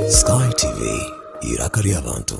Sky TV, iraka ry'abantu.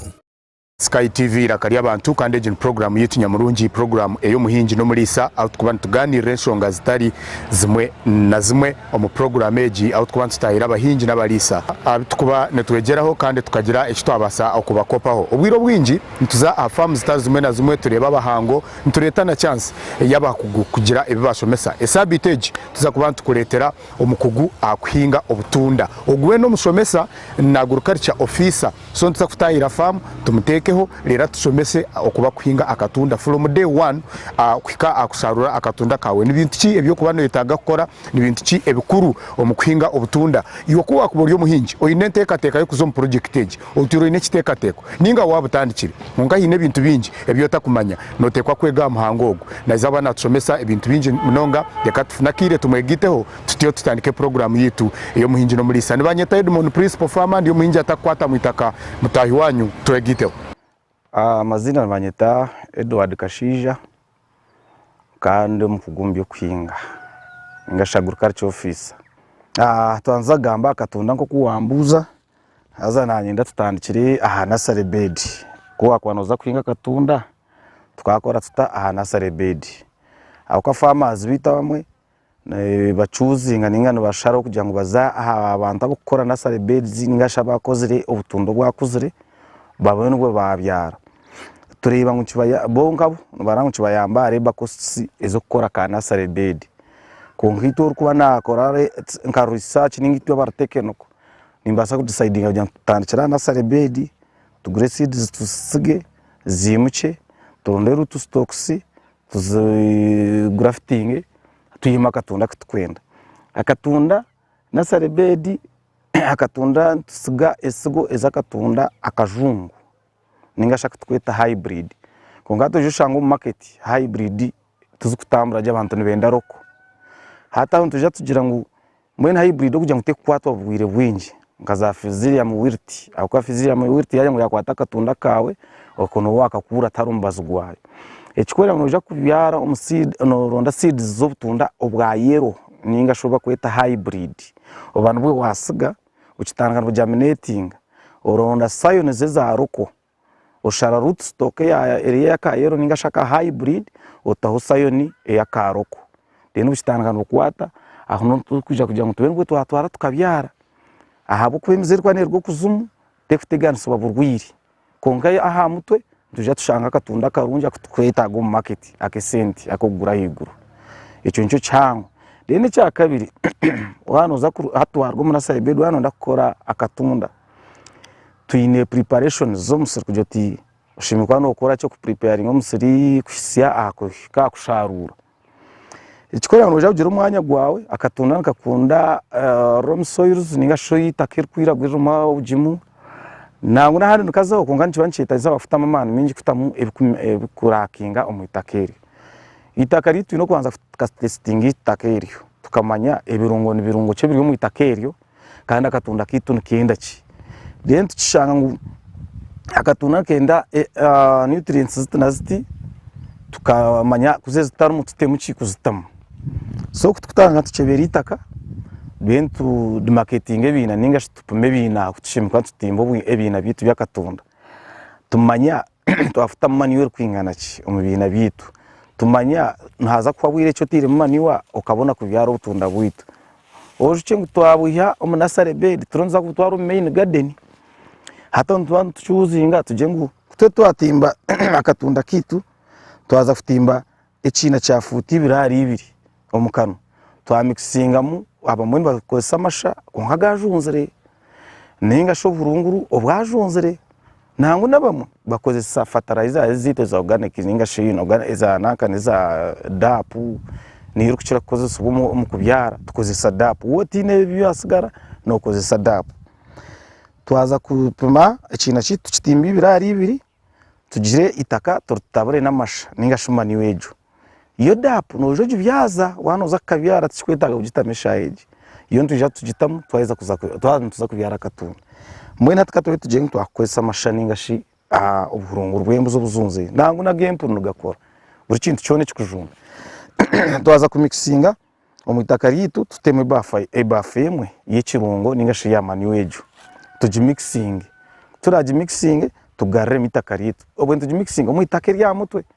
Sky TV iraka ry'abantu kandi egi ni puroguraamu yaitu nyamurungi, puroguraamu ey'omuhingi n'omuriisa ahu turikuba nitugaaniirira enshonga zitari zimwe na zimwe. Omu puroguraamu egi ahu tukuba nitutaahira abahingi n'abariisa abu tukuba nitwegyeraho kandi tukagira eki twabaasa kubakopaho. Obwire obwingi nituza aha faamu zitari zimwe na zimwe tureebe abahango nitureeta na chansi ey'abakugu kugira ebi baashomesa. Esaabiiti egi tuza kuba nitukureetera omukugu aha kuhinga obutunda. Ogu weena omushomesa naagurukarikya ofiisa. so nituza kutahira faamu tumutekeho reero atushomese oku bakuhinga akatunda from day one kuhika aha kusharura akatunda kawe nibintu ki ebi okuba noyetaga kukora nibintu ki ebikuru omu kuhinga obutunda iwe ku wakuba ori omuhingi oyine entekateka y'okuza omu project egi otwire oyine ekitekateko ninga wabutandikire kwonka haine ebintu bingi ebi otakumanya notekwa kwega aha muhango ogu naiza aba natushomesa ebintu bingi munonga reka tufune akaire tumwegaiteho. Tutyo tutandika puroguraamu yaitu ey'Omuhingi n'Omuriisa. Nibanyeta Edmon, Principal Farmer, ndi omuhingi atakukwata mu itaka. Mutaahi waanyu twegaiteho. Amaziina nibanyeta Edward Kashaija kandi omukugu omu by'okuhinga ningashi Agriculture Officer. Twandize kugamba aha katunda nk'oku wambuuza, haza nanyenda tutandikire aha nursery bed. Ku waakuba noza kuhinga akatunda, tukakora tuta aha nursery bed? Ahabw'okuba farmers baitu abamwe nibacuuzinga ninga nibashara kugira ngu baze aha bantu ab'okukora nasari bedizi ninga shi abakozire obutunda obwakuzire baboone n'obu baabyara. Tureeba ngu bo nkabo nibareba ngu kibayamba aha reba kositisi ez'okukora ka nasari bedi. Kwonka itwe orikuba naakora nka risaaki ninga itwe abari tekiniko, nimbaasa kudisaidinga kugira ngu tutandikire aha nasari bedi, tugure sidizi tuzitige, ziimukye, turonde ruutu sitokisi, tuzigraftinge twihemu akatunda akuturikwenda, akatunda nursery bed akatunda nitutsiga etsigo ezakatunda akajungu ninga shi akuturikweta hybrid kwonka hati noija oshanga omu market hybrid tizikutambura gye abantu nibenda local hati aho nitwija tugira ngu Mbwenu hybrid okugira ngu tekukwatwa burwaire bwingi nka za Fusarium wilt ahabw'okuba Fusarium wilt yaagira ngu yaakwata akatunda kaawe okwo nooba waakakuura tihariho mubazi gwaayo. Ekikwereka ngu noija kubyara omu seed nooronda seeds z'obutunda obwa yellow nainga shi obu bakweta hybrid oba nibwo waatsiga okitandika noogiminatinga oronda scions eza local. Oshara root stock eri eya ka yellow ningashi aka hybrid otaho scion eya ka roko. Then obukitandika nibukwata, aho niho turikwija kugira ngu tube nibwo twatwara tukabyara. Ahabw'okuba emizi erikuba neruga okuzimu terikuteganisibwa burwire. Kwonka aha mutwe nitwija tushanga akatunda akarungi aku turikwetaaga omu market ak'esente ak'okugura ahaiguru. Ekyo nikyo kihango. Then ekyakabiri, waaba noza hati twaruga omu nursery bed waaba noyenda kukora akatunda. twine preparations z'omusiri kugira oti oshemereire kuba nookora ki oku preparinga omusiri kuhitsya aha kuhika aha kusharuura. Ekikwereka ngu noija kugira omwanya gwaawe, akatunda nikakunda loamy soils ninga shi eitaka erikwiragura eririmu obugimu, nangwa n'ahandi nikazaho kwonka nikiba nikyetaagiisa waaba kutamu amaani maingi kutamu ebikurakinga omu itaka eryo. Eitaka ryeitu twine kubanza tuka testinga eitaka eryo tukamanya ebirungo nibirungo ki ebiri omu itaka eryo. kandi akatonda kaitu nikenda ki then tukishanga ngu akatonda nikenda eh, ah, nutrients ziti na ziti tukamanya kuze zitarimu tutemu ki kuzitamu so kutukutanga nka tukyebera itaka then tudimaketinga ebiina ninga shi tupume ebiina ahu tushemekwa tutimba obwi- ebiina byaitu byakatunda tumanya twafutamu manure erikwingana ki omu biina byaitu tumanya nihaza kuhwa bwire ki oteiremu manure okabona kubyara obutunda bwaitu Orusyo ngu twabwiha omu nursery bed turonda kutwara omu main garden hati nituba nitu chosinga tugire ngu kutwe twatimba akatunda kaitu twaza kutimba ekiina kya foot ibiri ahari ibiri omu kanwa twa mixingamu abamwe nibakozesa amasha kwonka gajunzire ningashi obuhurunguru obwajunzire. Nangwa n'abamwe bakozesa fertilizer ezi zaitu eza organic ninga shi eza nanka eza DAP niyo erikukira kukozesibwa omu omu kubyara tukozesa DAP. Waaba otaine ebi byasigara nokozesa DAP. Twaza kupima ekiina kyaitu tukitimbye ibiri ahari ibiri tugire eitaka turitaburemu amasha ninga shi manure egyo. Yo dapu noija ogibyaza waaba noza kukabyara tikikwetaaga kugitamu eshaaha egi. Yo nitwija tugitamu twaheza kuza twaba nituza kubyara akatunda. Mbwenu hati ka tube tugire ngu twakukoresa amasha nainga shi obuhurunguru bw'embuzi obuzunzire nangwa n'ag'empunu nigakora buri kintu kyona ekikujunda. Twaza kumikisinga omu itaka ryaitu tutemu ebaafu ebaafu emwe y'ekirungo nainga shi eya manure egyo tugimikisinge. Ku turaagimikisinge tugariremu eitaka ryaitu. Obwo nitugimikisinga omu itaka ery'aha mutwe.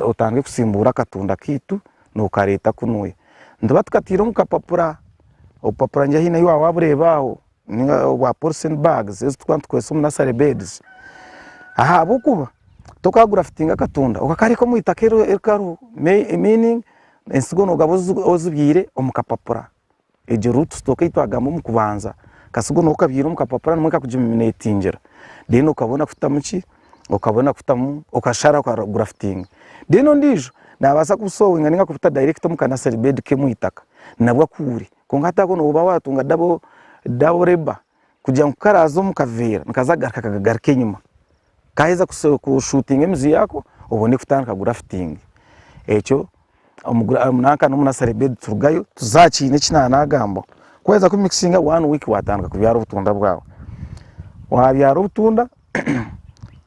otange kusimbuura akatunda kaitu nokareeta kunu, nituba tukataire omu kapapura, obupapura ngira haine ahu waaba wabureeba aho ninga obwa polythene bags ezi turikuba nitukoresa omu nursery beds ahabw'okuba tokagura fitinga akatunda okakareka omu itaka erikaru meaning ensigo nogaba ozibyaire omu kapapura. egyo root stock eyi twagamba omu kubanza katsiga noba okabyire omu kapapura nimwo ekakugiminetingira then okabona kutamu ki, okabona kutamu okashara oka grafitinga then ondijo nabasa ku sowinga ninga kubita direct omu ka nursery bed ke omwitaka nabwo akuure kwonka hati aho noba watunga double labour. kugira ngu karaza omu kaveera nikaza kugaruka kagaruka enyima kaheza kushutinga emizi yako obone kutandika gurafitingi ekyo nanka nomu nasare bedi turugayo tuza aha kiine eki nari nagamba ku waheza ku mikisinga one week watandika kubyara obutunda bwawe wabyara obutunda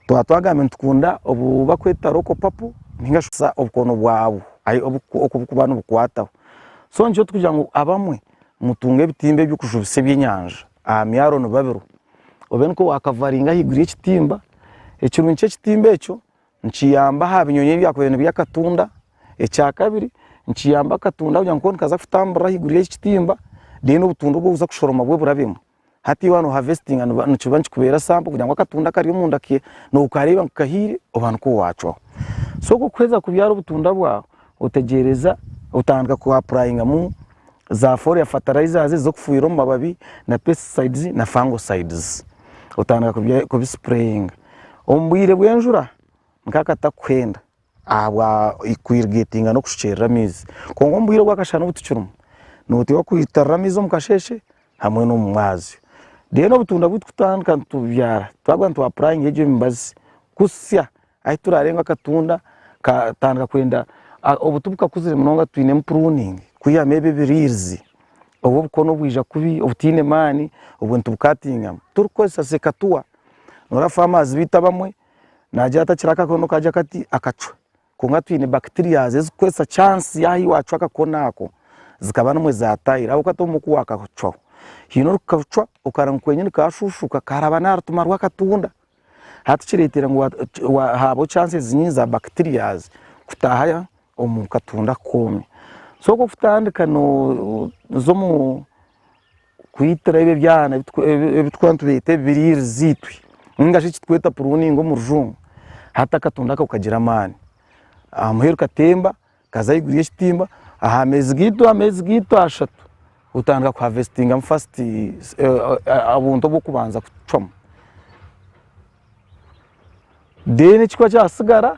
twaba twagambire nitukunda obu bakweta roko papo ninga shi obukono bwabu oku bukuba nibukwataho so nikyo tukugira ngu abamwe mutunge ebitimba eby'okujubisa ebyenyanja aha myaro nibabirwa, obe nikwo waakavaringa ahaiguru y'ekitimba, ekirungi ky'ekitimba ekyo nikiyamba aha binyonyi ebyakubaire nibirya akatunda, ekyakabiri nikiyamba akatunda kugira ngu kooka nikaza kutamburira ahaiguru y'ekitimba reero obutunda obu orikuza kushoroma bwo burabemu Hati iwe noharvestinga nikiba nikikubeera sample kugira ngu akatunda akari omunda ke nokareeba ngu kahiire oba nikwo wacwaho. So ku orikuheeza kubyaara obutunda bwaawe, otegyereza otandika ku apurayingamu za foliar fertilizers ezi z'okufuhirira omu mababi na pesticides na fungicides. Otandika kubisipureyinga omu bwiire bw'enjura nka akatakuhenda. ahabwa kwirigetinga n'okushukyerera amaizi kwonka omubwire bwakashana obutukirimu noteekwa kwitarira amaizi omu kasheeshe hamwe n'omu mwazyo then obutunda buturikutandika nitububyara twagira ngu twapurayinga egyo mibazi kusya ahu turarenga akatunda katandika kwenda obuti bukakuzire munonga twinemu puruningi kwihamu ebyo ebiriirizi obu obukono bwija kubi obutaine maani obwo nitubukatingamu turikukozesa sekatuwa noreeba famazi beitu abamwe naagira ati akiri akakono kaagira kati akacwe kwonka twine bacterias ezikukoresa chance yaahi waacwa akakono ako zikaba nimwo zaataahire ahabw'okuba ti obumwe ku waakacwaho haine orikukacwa okareba ngu kwenyini kaashuushuka kaaraba n'aha rutima rw'akatunda hati kireeteire ngu waahaabwo chance nyingi za bacterias kutaaha omu katunda koona so kwokutandika nooza omu kwitira ebyo byana ebi turikuba nitureeta ebiriire ziitwe ningashi eki turikweta puruningi omu rujungu, hati akatunda ako kagira amaani. Aha muheru katemba kaza ahaiguru y'ekitimba, aha meezi gaitu ameezi gaitu ashatu otandika kuhavesitingamu fasiti obuntu obw'okubanza kucwamu. Deeni ekikuba kyatsigara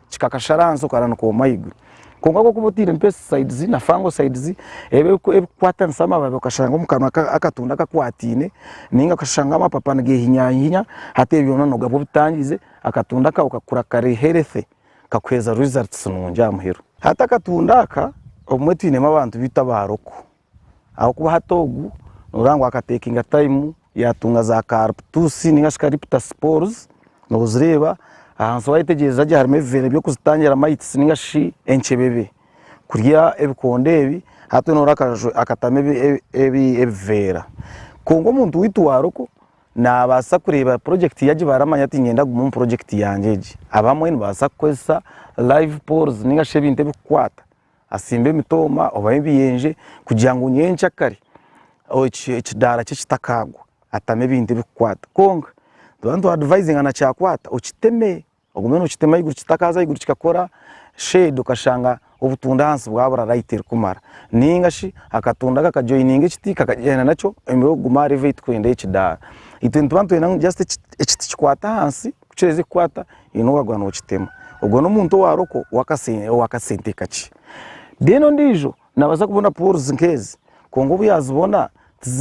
kikakashara ahansi okara nikooma ahaiguru kwonka ku orikuba oteiremu pesticides na fungicides ebi erikukwatanisa amababi okashanga omu kanwa akatunda kakwataine ninga okashanga amapapa nigehinyahinya hati ebyo byona nogabwa obutangize akatunda kawe kakura kari healthy kakuheereza results nungi aha muheru. Hati akatunda aka obumwe twinemu abantu beitu aba Aroko. Ahabw'okuba hati ogu nooreeba ngu akatekinga taimu yaatunga za kaaruputusi nainga shi kariputa sipooruzi, noozireeba ahansi waayetegyeereza gye harimu ebiveera eby'okuzitangira mayitisi nainga shi enkyebebe kurya ebikondo ebi, hati we nooreeba akajwe akatamu ebiveera. Kwonka omuntu waitu wa roko naabaasa kureeba purojekiti ye agibare amanye ati niinyenda kugume omu purojekiti yangye egi. Abamwe nibabaasa kukozesa laivu pooruzi nainga shi ebintu ebikukwata atsimbe emitooma oba ebiyenje kugira ngu nyenkya kare ekidaara kye kitakaagwa atamu ebintu ebikukwata kwonka nituba nitu advisinga na kyakwata okiteme ogume nokitema ahaiguru kitakaaza ahaiguru kikakora shade okashanga obutunda ahansi bwabura light erikumara ninga shi akatunda kaka joininga ekiti kakagyenda nakyo emirimo erikugume aha level eyi turikwenda eyekidaara itwe nituba nitwenda ngu just ekiti kikwate ahansi. Kukireze kukwata haine owagwa nokitema ogwo nomuntu owaroko owakasente kakye then ondijo nabaasa kubona pores nkezi kwonka obuyazibona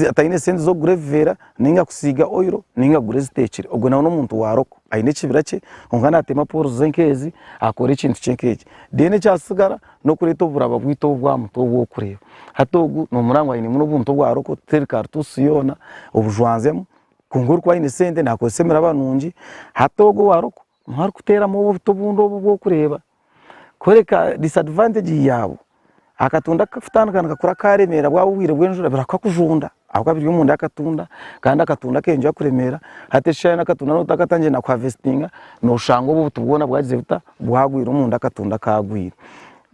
ataine sente zokugura ebiveera ninga kusiiga oil ninga kugura ezitekire ogwe nawe nomuntu waroko aine ekibira kye kwonka natema pores ze nkezi akora ekintu kye nkekyo then ekyatsigara nokureta oburaba bwitu obu bwamutwe obu orikureeba hati ogu nomuraba ngu aine obuntu obwaroko teri karitusi yoona obujwanzemu kwonka orikuba aine sente nakozesa emiraba nungi hati ogwo owarokwo niwe arikuteeramu obuto obundi obu orikureeba kworeka disadvantage yaabwo. Akatunda kukatandika nikakura karemeera bwaba obwire bw'enjura buri kukakujunda ahabw'okuba biri omunda y'akatunda kandi akatunda keyongyera kukura kuremeera hati ekishushani n'akatunda noba otakatandikire na ku harvestinga noshanga obu obuto bwona bwagize buta? bwagwire omunda akatunda kagwire.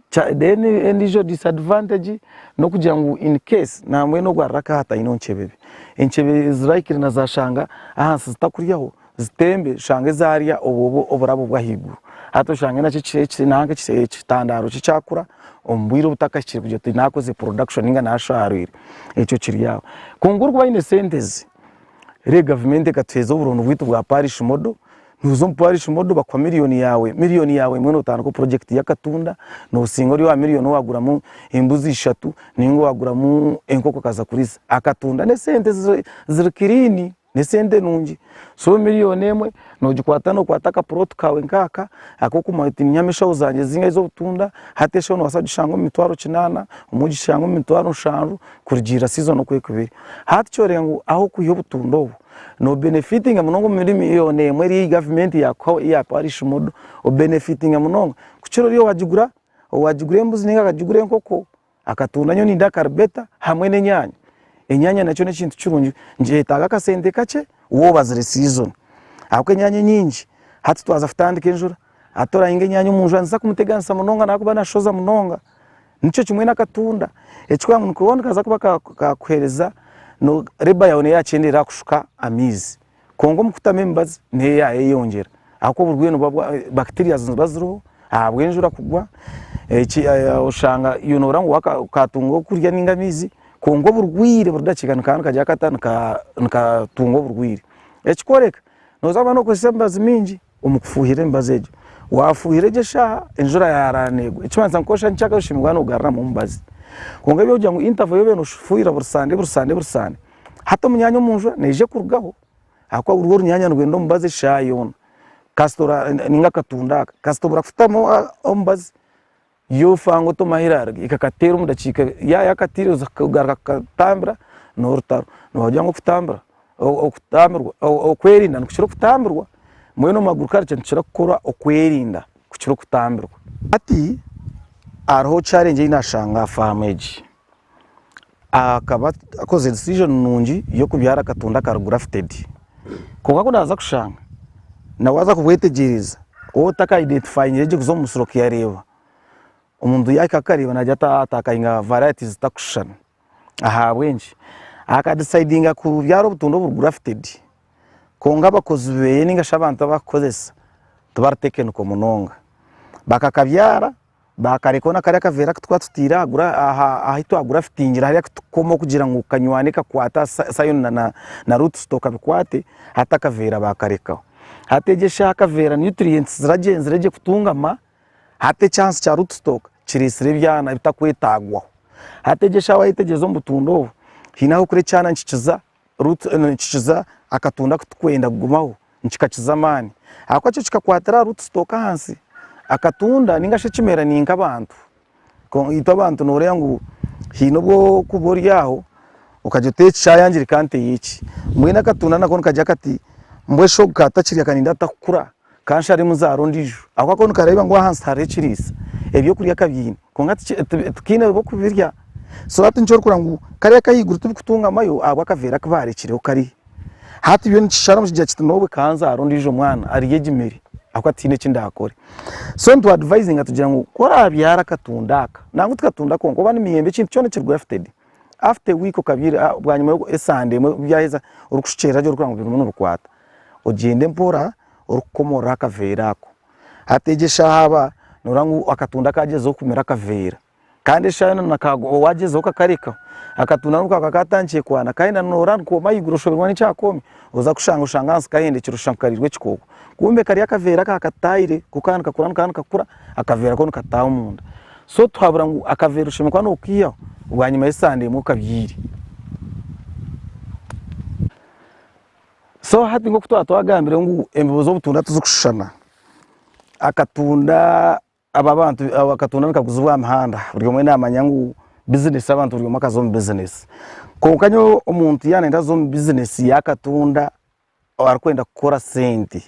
Then endiijo disadvantage nokugira ngu in case na mbwenu ogu ari raka hataine oncebebe encebe zirahikire na zashanga ahansi zitakuryaho zitembe oshange zarya obwo oburabo bwahiguru hati oshange nakyo nahanka ekitandaro kye kyakura omu bwire obutakahikire kugira oti nakoze production ninga nasharwire ekyo kiri aho kwonka orikuba aine sente ezi rero gavumenti ekatuheza oburondo bwitu bwa parish model Noza omu parish model bakuha million yawe, million yawe emwe notandika o project yakatunda, nosinga ori owa million owaguramu embuzi ishatu ninga owaguramu enkoko okaza kurisa. Akatunda nesente ziri clean, nesente nungi. So million emwe nogikwata nokwata aka plot kawe nkaka akokumanya oti ninyamu eshaho zangye zingahe zobutunda, hati eshaho nobaasa kugishanga omu mitwaro kinana, obumwe ogishange omu mitwaro nshanju kurugiirira season oku erikuba eri. Hati kyoreka ngu ahokwiha obutunda obwo, no benefitinga munonga omu mirimo yoona emwe eri eyi gavumenti yakuhaho eyi yakuha ari shimodo o benefitinga munonga kukira ori owagigura owagigura embuzi ninga akagigura enkoko akatunda nyowe nindya karibeta hamwe n'enyanya enyanya nakyo n'ekintu kirungi nikyetaaga akasente kakye waaba obazire sizoni ahabw'okuba enyanya enyingi hati twaza kutandika enjura hati orahinga enyanya omu njura niziza kumuteganisa munonga nakuba nashoza munonga Nikyo kimwe n'akatunda. Ekikuramu nikubaho nikaza kuba kaakuheereza, reeba yaawe neyo yaakyendeera aha kushuka amaizi. Kwonka omu kutamu emibazi neyo yaayeyongyera ahabw'okuba oburwaire nibwo bwa, bacteria niziba ziriho ahabw'enjura kugwa, oshanga iwe nooreeba ngu okaatunga okurya nainga amaizi kwonka oburwaire buri dakiika nikaba nikagya kata, nikatunga oburwaire. Ekikworeka, nooza kuba nookozesa emibazi mingi omu kufuuhirira emibazi egyo. Waafuuhira gye eshaaha enjura yaaraara neegwa, ekimanyisa ngu kooshusha nikyaka oshemererwa noogaruramu omubazi. Kwonka ebi orikugira ngu interval y'obeire noofuuhirira buri sande buri sande buri sande, hati omunyaanya omu njura neija ekurugaho ahakuba guriho orunyaanya nirwenda omubazi eshaaha yoona kasita ninga akatunda aka kasita obura kufutamu omubazi. Yo Fang Otoma Hillary ekakateera omu dakiika ya yakatiire oza kugaruka kukatambira norutaro noba ogira ngu okutambira okutambirwa okwerinda nikukira okutambirwa mbwenu omu agriculture nitukira kukora okwerinda kukira okutambirwa hati hariho challenge eyinashanga aha faamu egi. akaba akozire decision nungi y'okubyara akatunda akari grafted kwonka kunaza kushanga na waza kubwetegyereza waaba otaka identifyingire gye kuza omu musiri okuyareeba, omuntu yahika kukareeba nagira ati aha atakainga varieties zitakushushana ahabw'enki? aka decidinga kubyara obutunda oburi grafted kwonka abakozi beeye ninga shi abantu abu arikukoresa tibari technical munonga, bakakabyara. bakareka hoona kariya akaveera aku twatutaire ahu twagurafitingire hariya ku tukukoma kugira ngu kanywane kakwate Sayoni na Ruutusito kabikwate, hati akaveera baakarekaho. Hati egi eshaaha akaveera nutrients ziragyenzire gye kutungama, hati ekihansi kya Ruutusito kiriisire ebyana ebitakwetagwaho. Hati egi eshaaha wayetegyereza omu butunda obu, haine ah'okuri ekyana nikikiza Ruth nikikiza akatunda kutikwenda kugumaho nikikakiza amaani ahabw'okuba kyo kikakwatira aha Ruth sitoka ahansi. Akatunda ninga shi ekimera ni nk'abantu. Itwe abantu nooreeba ngu haine obu orikuba ori aho okagira oti eki kyayangirika nteyo eki. Mbwenu akatunda nako nikagirira kati mbwenu shi ogu ka atakirya ka nindakukura? ka nsharemu zaara ondiijo ahabw'okuba koo nikareeba ngu ahansi hariho ekiriisa, ebyokurya kabyine kwonka tikaine b'okubirya so hati nikyo orikureeba ngu kariya ak'ahaiguru tibikutungamayo ahabw'akaveera aku baarekireho kariya. Hati byo nikisharamu kigira kiti nyowe ka nzaare ondiijo mwana arye egi mere ahabw'okuba tihaine eki ndaakore. So nitwadvaizinga tugira ngu ku oraabyara akatunda aka, nangwa tikatunda konka oba n'emiyembe ekintu kyona ekiri grafted, after a week okabyara bwanyima y'esande emwe byaheza orikushukyerera gye orikureeba ngu birimu nibikwata. ogyende mpora orikukomorora akaveera ako. Hati egyo eshaaha aba noreeba ngu akatunda kagyezeho kumira akaveera kandi eshaaha yoona na ka owagyezeho kakarekaho akatunda niko kaba katandikire kwana kandi na nooraba nikooma ahaiguru oshoberwa n'eki akoomire oza kushanga oshanga ahansi kahendekire oshusha ngu kariirwe ekikooko kumbe kari akaveera aka akataire ku kaba nikakura nikaba nikakura akaveera ko nikataaha omunda. So tuhabura ngu akaveera oshemereire kuba nookaihaho bwanyima y'esande emwe okabyaire. So hati nk'oku twaba twagambire ngu embibo z'obutunda tizikushushana, akatunda aba abantu akatunda nikaguzibwa aha mihanda buri omwe naamanya ngu bizinesi abantu buri omwe akaza omu bizinesi. Kwonka nyowe omuntu yaaba nayenda kuza omu bizinesi y'akatunda arikwenda kukora sente,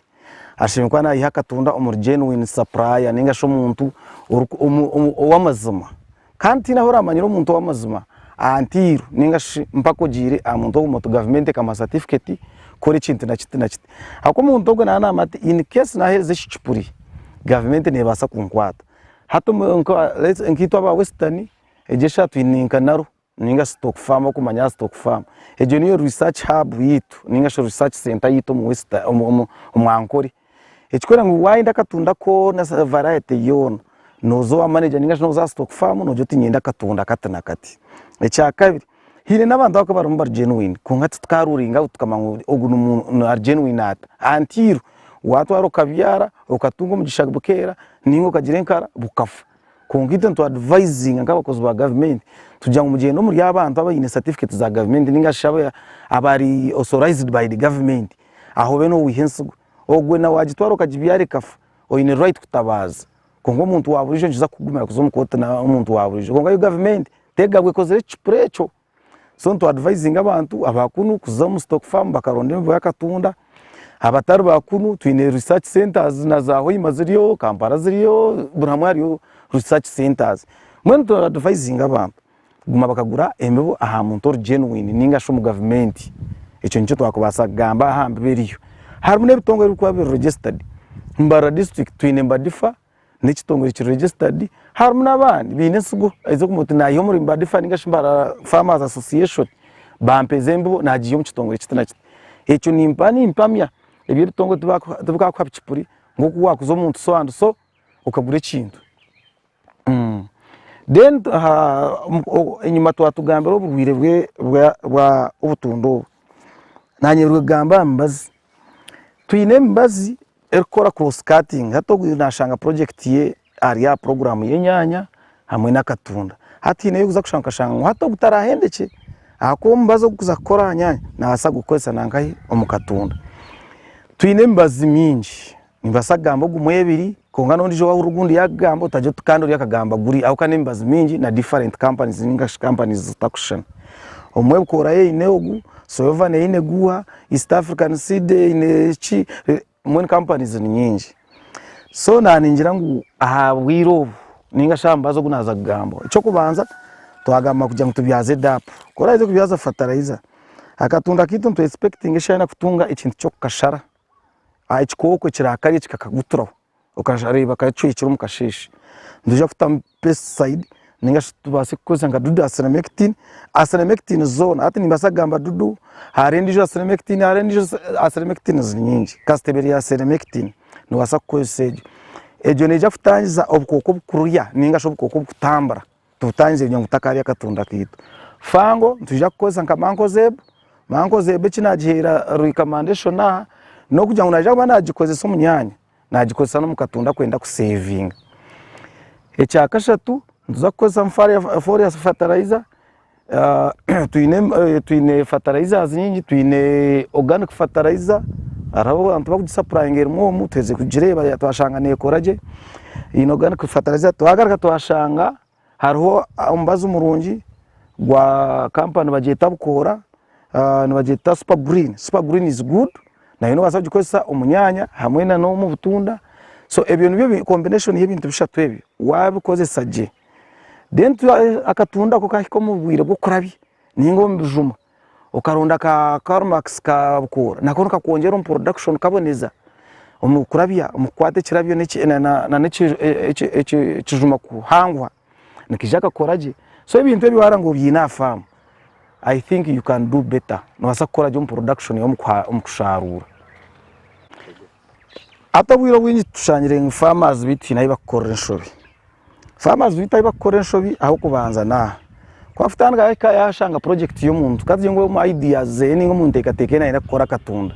ashemereire kuba naiha akatunda omuri genuine supplier ninga shi omuntu ow'amazima. Kandi tihaine ahu oramanyira omuntu ow'amazima aha ntairu nainga shi mpaka ogiire aha muntu ogwo oti gavumenti ekamuha satifiketi kukora ekintu na kiti na kiti. Ahabw'okuba omuntu ogwo naaba naamanya ati in case naaheereza eki kipuri, gavumenti neebaasa kunkwata. Hati nkaitwe aba Western, egyo eshaaha twine nka NARO nainga shi stock farm okumanya aha stock farm. Egyo niyo research hub yaitu nainga shi research center yaitu omu Western, omu Ankole. ekikworeka ngu wayenda akatunda koona variety yoona noza owa manager ninga shi noza aha stock farm nogira oti niinyenda akatunda kati na kati. Ekyakabiri haine n'abantu abakuba barimu bari genuine kwonka tituka ruling out tukamanya ngu ogu n'omuntu ari genuine ata anti irwe watwara okabyara okatunga omugisha bukeera ninga okagira enkara bukafa kwonka itwe nitu advisinga nk'abakozi ba gavumenti tugira ngu mugyende omuri abantu abaine certificate za gavumenti ninga shi abari authorized by the gavumenti Aho obe nowiha ensigo ogwe nawe wagitwara okagibyara ekafa oyine right kutabaaza kwonka omuntu waburijo nikiza kukugumira kuza omu kooti nomuntu waburijo kwonka yo gavumenti tegabwa ekozire ekicupuri ekyo so nitu advisinga abantu abakunu kuza omu stock farm bakaronda emibuya akatunda abatari bakunu twine research centers na za hoima ziriyo, kampala ziriyo buri hamwe hariyo research centers mbwenu tu advisinga abantu. Kuguma bakagura embibo aha muntu ori genuine ninga shi omu gavumenti, ekyo nikyo twakubaasa kugamba aha mbibo eriyo. Harimu n'ebitongore ebirikuba biri registered. Mbarara district twine Mbadifa n'ekitongore kiri registered, harimu n'abandi baine ensigo aija kumanya oti naayiha omuri Mbadifa ninga shi Mbarara Farmers Association bampeeza embibo naagiiha omu kitongore kiti na kiti. Ekyo nimpa nimpamya ebi ebitongore tibikakuha bicupuri nk'oku waakuza omuntu so and so okagura ekintu. Then enyima twatugambira oburwiire bwa obutunda obu, nanye rwegamba aha mibazi, twine emibazi erikukora cross cutting hati ogwe nashanga project ye ari aha program y'enyanya hamwe n'akatunda, hati hineho obu orikuza kushanga okashanga ngu hati ogu tarahendekye ahakuba omubazi ogu kuza kukora aha nyanya nabasa kugukoresa nankahi omu katunda, twine emibazi mingi. Nimbaasa kugamba ogumwe ebiri kwonka n'ondijo wahurira ogundi yakugamba otaryo oti kandi ori akagamba guri ahabw'okuba n'emibazi mingi na different companies ninga shi companies zitakushushana. Obumwe bukorayo eine ogu, Soyovan eine guha, East African Seed eine ki, mbwenu companies ni nyingi. So naningira ngu ahabwire obu ninga shi aha mubazi ogu naaza kugamba, eky'okubanza twagamba kugira ngu tubyaze DAP, ku oraaze kubyaza fertilizer, akatunda kaitu nitwesipekitinga eshana kutunga ekintu ky'okukashara. aha kikooko ekirakarya kikakaguturaho okashanga reeba kacwekire omu kasheeshe, nitwija kutamu pesticide ninga shi tubaase kukozesa nka dudu aselemekitini, aselemekitini zoona hati nimbaasa kugamba dudu, hariho endiijo aselemekitini, hariho endiijo aselemekitini ziri nyingi kasita eba eri aselemekitini nobaasa kukozesa egyo, egyo neija kutangiza obukooko obukururya ninga shi obukooko obukutambura. tubutangire kugira ngu tutakaarya akatunda kaitu. Fango nitwija kukozesa nka Mancozeb, Mancozeb eki naagiheera ruhika manda eshona aha, n'okugira ngu naija kuba naagikozesa omu nyaanya, naagikozesa n'omu katunda aku arenda kuseevinga. Ekya kashatu nituza kukozesa Foliar Fertilizer. Twine fertilizers nyingi, twine organic fertilizer hariho abantu abarikugisapurayinga erimu omu, twaheza kugireeba twashanga neekora gye, twine organic fertilizer, twagaruka twashanga hariho omubazi murungi gwa kampani nibagyeta Bukoora, nibagyeta super green, super green is good, nayo nobaasa kugikozesa omu nyaanya hamwe n'omu butunda, so ebyo nibyo combination y'ebintu bishatu ebyo waabikozesa gye. then akatunda ako kahika omu bwire bw'okurabya ninga omu bijuma okaronda ka karmax ka bukoora nako nikakwongyera omu production kaboneza omu kurabya omu kukwata ekirabyo n'ekijuma kuhanguha nikija kakora gye so ebintu ebi waba obyine aha faamu i think you can do better nobaasa kukora gye omu production omu kusharuura. Hati obwire obwingi tushangire ngu farmers beitu twine ahu bakukorera enshobi. Farmers beitu ahu bakukorera enshobi ah'okubanza n'aha, ku akutandika ahika yashanga project y'omuntu ka tugire ngu omu ideas zeye ninga omu ntekateka eye nayenda kukora akatunda,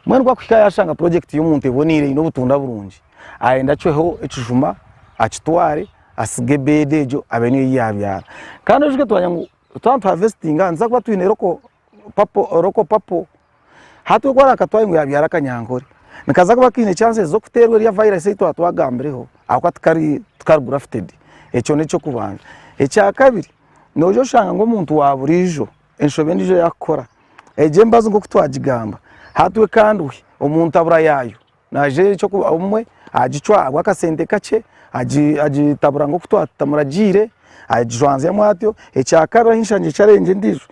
mbwenu ku akuhika yashanga project y'omuntu eboniire eine obutunda burungi, ayenda acweho ekijuma akitware asige bed egyo abe niyo ei yabyara. Kandi oyijuke twamanya ngu twaba nituhavestinga nituza kuba twine local. papo oroko papo hati ogu arakatwaire ngu yabyara akanyankore nikaza kuba kaine chances z'okuterwa erya virus ei twaba twagambireho ahabw'okuba tikari tikari grafted ekyo n'eky'okubanza. Ekyakabiri noija oshanga ngu omuntu wa buriijo enshobe endiijo ei arikukora egyo emibazi nk'oku twagigamba hati we kandi omuntu abura yaayo nagira ekyokuba obumwe agicwa ahabw'akasente kakye, agitabura nk'oku twamuragiire, agijwanzyamu atyo. Ekyakabiri ahi nshangire ekyarengye endiijo,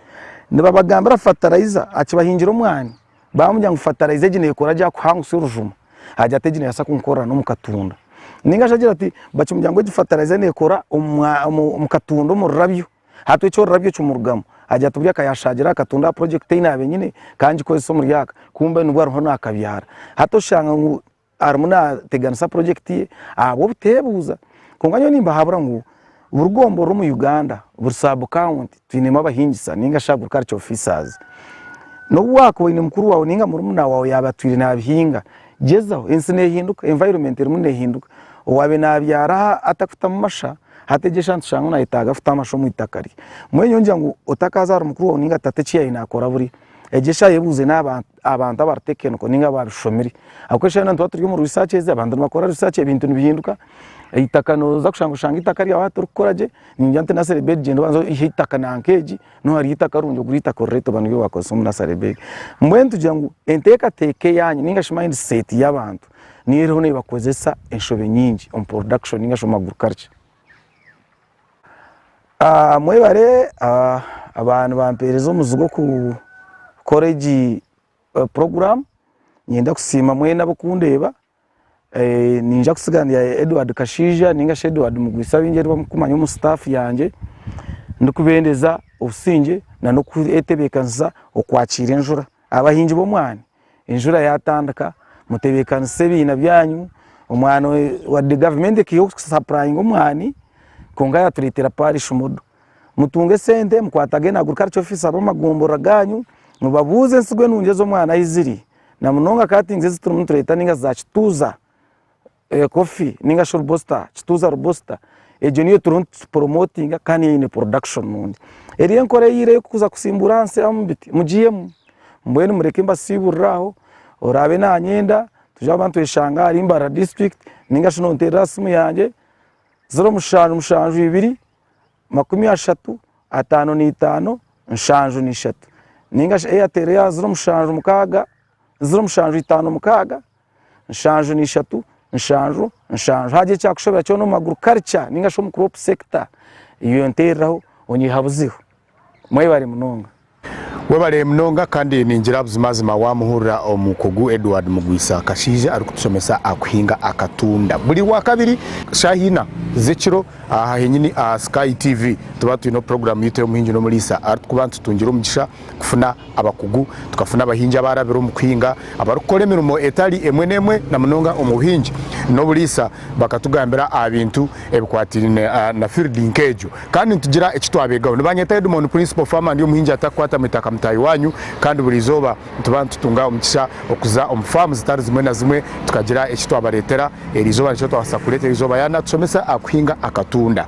nibabagambira fataraiza akibahingira omwani, baamugira ngu fataraiza egi neekora gye akuhanguse orujuma, agira ati egi neebaasa kunkorera n'omu katunda. Nainga shi agira ati, bakimugira ngu egi fataraiza neekora omu katunda omu rurabyo. Hati ekyo orurabyo kimurugamu agira ati buri aka yashagiraho akatunga aha project ei nabe nyine ka ngikozesa omuri aka kumbe nibwe ariho nakabyara. Hati oshanga ngu arimu nateganisa project ye ahabw'obutebuuza. Konka nyowe nimbahabura ngu buri gombe oriri omu Uganda, buri sub county twinemu abahingisa ninga shi agriculture officers. Nobu wakuba oyine mukuru wawe ninga murumuna wawe yaba atwire nabihinga, gyezaho. Ensi nehinduka, environment erimu nehinduka. Owabe nabyara atakutamu masha, Hati egyo eshaaha nitushanga nayetaaga kuta amasho omu itaka rye. Mbwenu nyowe ngira ngu otakaaza ahari mukuru waawe nainga tata eki yaabaire naakora buri egyo eshaaha yebuuze n'aba abantu abaritekenoko nainga abaabishomire ahabw'okuba eshaaha yoona nituba turi omu research ezi abantu nibakora research ebintu nibihinduka, eitaka nooza kushanga oshanga eitaka ryawe hati orikukora gye ningira nti nursery bed gyenda obanze oyihe eitaka nanka egi niho hariho eitaka rirungi ogure eitaka orirete oba niryo waakozesa omu nursery bed. Mbwenu nitugira ngu enteekateeka eyaanyu nainga shi mind set y'abantu niyo eriho nebakozesa enshobe nyingi omu production ningashi omu agriculture. Mwebare aba nibampereza omuzi gw'okukora egi program, niinyenda kusiima mwena ab'okundeeba, niija kutsiga ndi Edward Kashaija ningashi Edward Mugwisa abingi abu murikumanya omu staff yangye, ndikubendeza obusingye na n'okwetebekanisa okwakiira enjura. Abahingi b'omwani enjura yatandika mutebekanise ebiina byanyu omwani wadde gavumenti ekaiha okusapurayinga omwani kwonka yatureetera parish modo mutunge esente mukwatage na agriculture officer b'amagomborora ganyu mubabuuze ensigo enungi ez'omwani ahi ziri na munonga ka tinga ezi turimu nitureeta ninga za kituuza. Coffee ninga shi robusta, kituuza robusta, egyo niyo turiho nituporomotinga kandi niyo eine production nungi. Eriyo enkora eyiireho ey'okuza kusimbuura aha nsi amu biti mugihemu. Mbwenu mureke mbasiibuurire aho, oraabe nanyenda twije kuba nitweshanga ahari Mbarara district ninga shi nonteerera aha siimu yangye, ziro mushanju mushanju ibiri, makumi ashatu, ataano na itaano, nshanju na ishatu. Ninga shi Airtel ya ziro mushanju mukaaga, ziro mushanju itaano mukaaga. nshanju na ishatu, nshanju, nshanju. Haagira ekyakushobera kyona omu agriculture ninga shi omu crop sector, iyo nteereraho onyiha buziho. Mwebare munonga. Webale munonga kandi ningira buzimazima wamuhurira omukugu Edward Mugwisa Kashaija arikutushomesa kuhinga akatunda buri rwakabiri. Shaaha ina z'ekiro aha henyini aha Sky TV tuba twine puroguramu yitu ey'omuhingi n'omuriisa aritu kuba nitutungire omugisha. kufuna abakugu, tukafuna abahingi abaarabire omu kuhinga, abarikukora emirimo etari emwe n'emwe na munonga omu buhingi n'oburiisa. Bakatugambira aha bintu ebikwatiraine na fiiridi nk'egyo kandi nitugira eki twabeegaho. Nibanyeta Edmond, Principal Farmer, ndi omuhingi atakukwatamu eitaka mutaahi waanyu kandi buri izooba nituba nitutunga omugisha okuza omu faamu zitari zimwe na zimwe tukagira eki twabareetera erizooba nikyo twabaasa kureetera erizooba yaanatushomesa aha kuhinga akatunda.